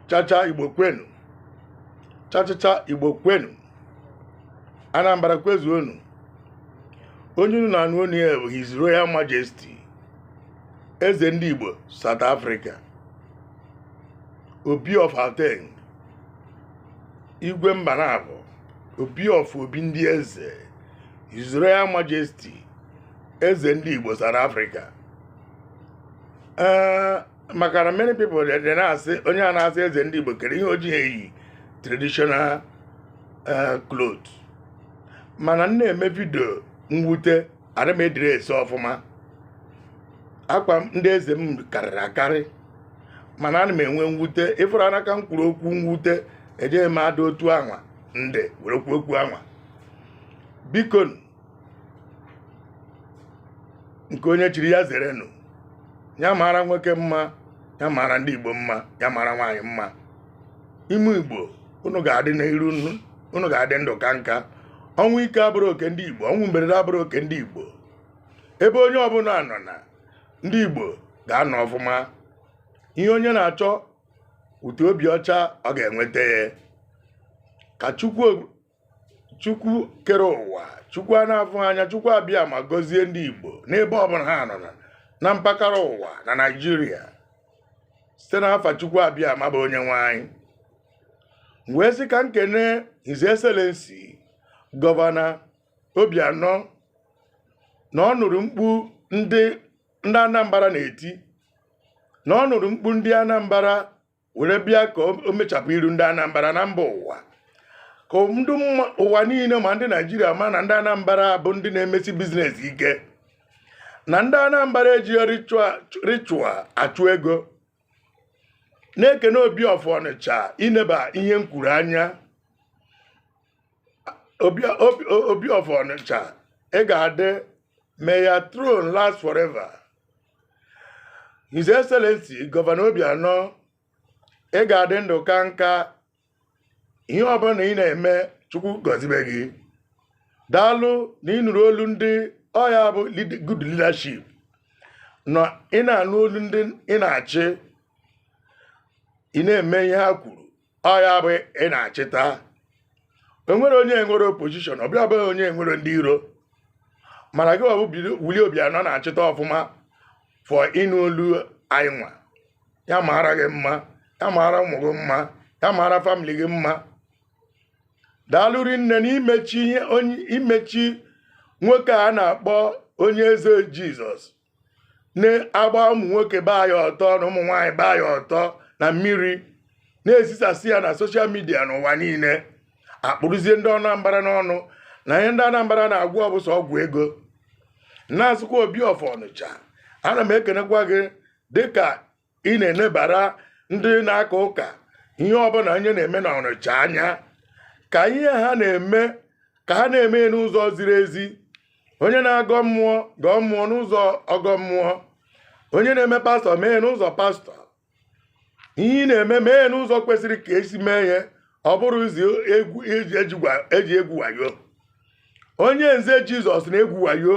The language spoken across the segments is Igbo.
chacha igbo kwenu chachacha igbo kwenu anambra kwezuonu onye unu na-anụ onu ya bụ his royal majesty eze ndị igbo south africa obi of gauteng igwe mba naabọ obi of obi ndị eze his royal majesty eze ndị igbo south africa ee maka na many people dị dị na-asị onye a na-asị eze ndị igbo kere ihe o jighị eyi traditional eh, cloth mana m na-eme vidio mwute adịrọ m edress ọfụma akwa m- ndị eze m karịrị akarị mana ana m enwe mwute ị fụrọ anaka m kwuru okwu mwute ejighị m ada otu anwa ndị were kwuo okwu anwa biko nke onye chiri ya zere nụ ya mara nwoke mma ya mara ndị igbo mma ya mara nwaanyị mma ụmụ igbo unu ga-adị n'iru unu ga-adị ndụ kaa nka ọnwụ ike abụrọ oke ndị igbo ọnwụ mberede abụrọ oke ndị igbo ebe onye ọbụla nọ na ndị igbo ga-anọ ọfụma ihe onye na-achọ with obi ọcha ọ ga-enweta ya ka chukwu chukwu kere ụwa chukwu a na-afụ anya chukwu abịama gọzie ndị igbo n'ebe ọbụla ha nọ na- na mpaghara ụwa na naijiria site n'afa chukwu abịama bụ onye nwe anyị M wee sị ka m kene his excellency gọvanọ obianọ na ọ nụrụ mkpu ndị ndị anambra na-eti na ọ nụrụ mkpu ndị anambra were bịa ka o mechapụ iru ndị Anambra na mba ụwa ka ndị ụwa niile ma ndị Naijiria ma na ndị Anambra bụ ndị na-emesi business ike na ndị Anambra ejighị ritual achụ ego na-ekene obi of Ọnịcha ineba ihe m kwuru anya obi of Ọnịcha ị ga-adị may your throne last forever His Excellency Gọvanọ Obianọ ị ga-adị ndụ kaa nka ihe ọbụla ị na-eme Chukwu gọzibe gị daalụ na ị nụrụ olu ndị ọ ya bụ lead- good leadership na ị na-anụ olu ndị ị na-achị ị na-eme ihe ha kwuru ọ ya bụ ị na-achịta enwerọ onye enwerọ opposition ọbịa bụ onye enwerọ ndị iro mana gị bụ willie obianọ na-achịta ọfụma for ịnụ olu anyị nwa ya maara gị mma ya maara ụmụ gị mma ya maara famili gị mma daalụ rinne na imechi imechi nwoke a na-akpọ onyeze jizọs na-agba ụmụ nwoke baa ya ọtọ na ụmụ nwaanyị baa ya ọtọ na mmiri na-ezisasị ya na soshal midia n'ụwa niile a kpụrụzie ndị Anambra n'ọnụ na ihe ndị Anambra na-agwọ bụ sọ ọgwụ ego na-asịkwa Obi of Ọnịcha ana m ekenekwa gị dịka ị na-enebara ndị na-aka ụka ihe ọbụla onye na-eme na Ọnịcha anya ka ihe ha na-eme ka ha na-eme ya n'ụzọ ziri ezi onye na-agọ mmụọ gọọ mmụọ n'ụzọ ọgọ mmụọ onye na-eme pastọ mee ya n'ụzọ pastọ ihe ị na-eme mee ya n'ụzọ kwesịrị ka e si mee ya ọ bụrọ iji egwu eji eji gwa- eji egwu wayo onye eze jizọs na-egwu wayo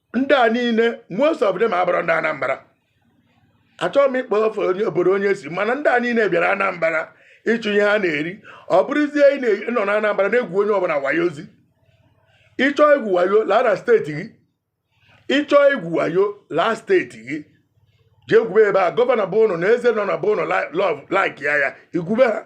ndị a niile most of them abụrọ ndị Anambra achọghị m ịkpọ afa onye obodo onye si mana ndị a niile bịara Anambra ịchụ ihe ha na-eri ọ bụrọzi ị na- ị nọ na Anambra na-egwu onye ọbụla wayo ọzọ ị chọọ igwu wayo laa na steeti gị ị chọọ igwu wayo laa steeti gị jee gwube ebe a gọvanọ be ụnụ na eze nọ na be ụnụ lọv laik ya ya i gwube ha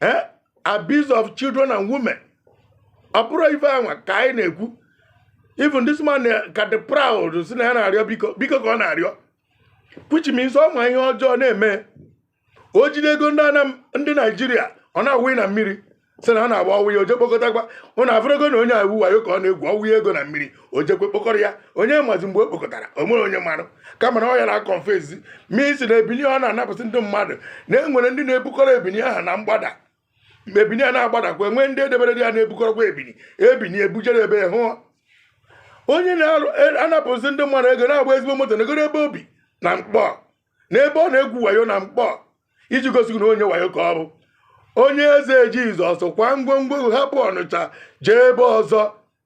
eh? abuse of children and women ọ bụrọ ife anwa ka anyị na-ekwu even this man eh, ka dị proud sị na ya na-arịọ biko biko ka ọ na-arịọ which means ọ ma ihe ọjọọ na-eme o jide ego ndị Anam ndị naijiria ọ na-awụ na mmiri sị na ha na-agba ọ wụa o jee kpokọtakwa ụnụ afụrụgo na onye a igwu wayo ka ọ na-egwu ọ wụa ego na mmiri o jekwa kpokọrọ ya onye mazi mgbe o kpokọtara o nwere onye marụ kama na ọ ya na-akọnfezi ma sị na ebini ọ na-anapụsị ndị mmadụ na e nwere ndị na-ebukọrọ ebini ahụ na mgbada mgbe ebini a na-agbadakwa e nwee ndị e debere ya na-ebukọrọkwa ebini ebini e bujere ebe ahụ onye na-anapụzi ndị mmadụ ego na-agba ezigbo moto na egoro ebe o bi na Nkpọ na ebe ọ na-egwu wayo na Nkpọ iji gosi na onye wayo ka ọ bụ onye eze jizọs kwa ngwongwo hapụ Ọnịcha jee ebe ọzọ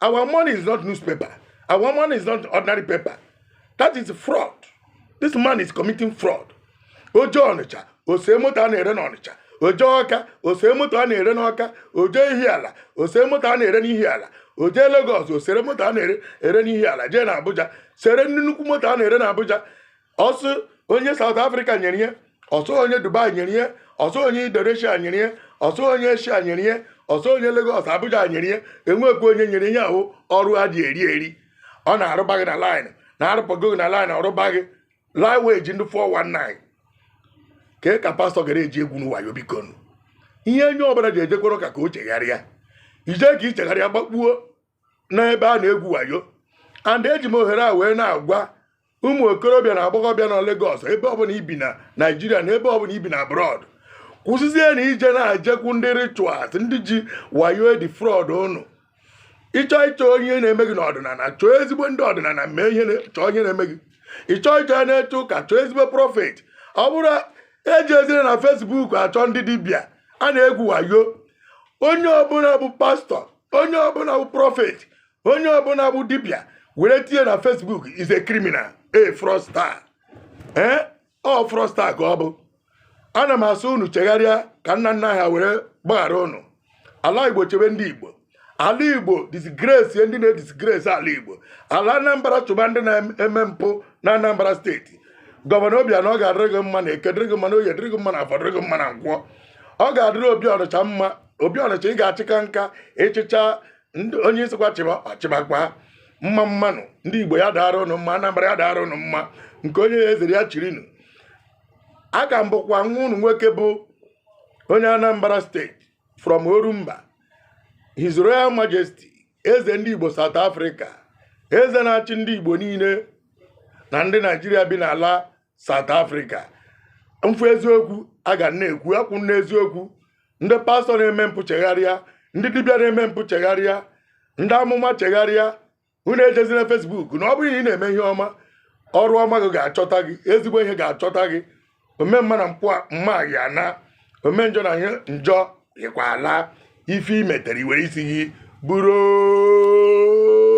Our money is not newspaper. Our money is not ordinary paper. That is fraud. This man is committing fraud. O jee Ọnịcha, o sere moto a na-ere n'Ọnịcha. O jee Ọka, o sere moto a na-ere n'Ọka. O jee Ihiala, o sere moto a na-ere n'Ihiala. O jee Lagos, o sere moto a na-ere n'Ihiala. Jee na Abuja, sere nnukwu moto a na-ere n'Abuja. ọ sị onye South Africa nyere ihe ọ sị onye Dubai nyere ihe ọ sị onye Indonesia nyere ihe ọ sị onye Asia nyere ihe ọ sị onye Lagos Abuja nyere ihe e nwekwu onye nyere ihe ahụ ọrụ ha dị eri eri ọ na-arụba gị na line na-arụpụgo gị na line ọ rụba gị line wage ndị 419 ka ka pastọ gara eji egwu wayo biko ihe onye ọbụla ji ejekwara ụka ka o chegharịa i je ka i chegharịa gbakpuo n'ebe a na-egwu wayo and eji m ohere a wee na-agwa ụmụ okorobịa na agbọghọbịa na Lagos ebe ọbụla i bi na Naịjirịa na ebe ọbụla i bi na abroad kwụsịzie na ije na-ajekwu ndị rituals ndị ji wayo edefraud ụnụ ị chọọ ịchọ ihe na-eme gị n'ọdịnala chọọ ezigbo ndị ọdịnala mee ihe chọọ onye na-eme gị ị chọọ ịchọ ya na-eche ụka chọọ ezigbo prọfet ọ bụrụ eji ezire na fesbuk achọ ndị dibịa a na-egwu wayo onye ọbụla bụ pastọ onye ọbụla bụ prọfet onye ọbụla bụ dibịa were tinye na fesbuk is a criminal a fraudster ee ọ fraudster ka ọ bụ ana m asị unu chegharịa ka nna nna ha were gbaghara unu ala igbo chebe ndị igbo ala igbo disgrace ndị na-edisgrace ala igbo ala anambra chụba ndị na-eme mpụ na anambra steeti gọvanọ Obianọ ọ ga-adịrị gị mma na eke dịrị gị mma na oye dịrị gị mma na afọ dịrị gị mma na nkwọ ọ ga-adịrị obi ọnịcha mma obi ọnịcha ị ga-achịka nka ị chịchaa onye ị sịkwa chịbakwa mma mma nụ ndị igbo ya daara ụnụ mma anambra ya daara ụnụ mma nke onye ya ezere ya chirinu aka m bụkwa nwa ụnụ nwoke bụ onye anambra steeti from orumba his royal majesty eze ndị igbo south africa eze na-achị ndị igbo niile na ndị naijiria bi n'ala South Africa mfu eziokwu a ga na-ekwu akwụ n'eziokwu ndị pastọ na-eme mpụ chegharịa ndị dibịa na-eme mpụ chegharịa ndị amụma chegharịa unu ejezina Facebook na ọ bụrụ na ị na-eme ihe ọma ọrụ ọma gị ga-achọta gị ezigbo ihe ga-achọta gị omemma na mma yi ana omenjọ na njọ yikwa ala ife i metere i were isi gị buru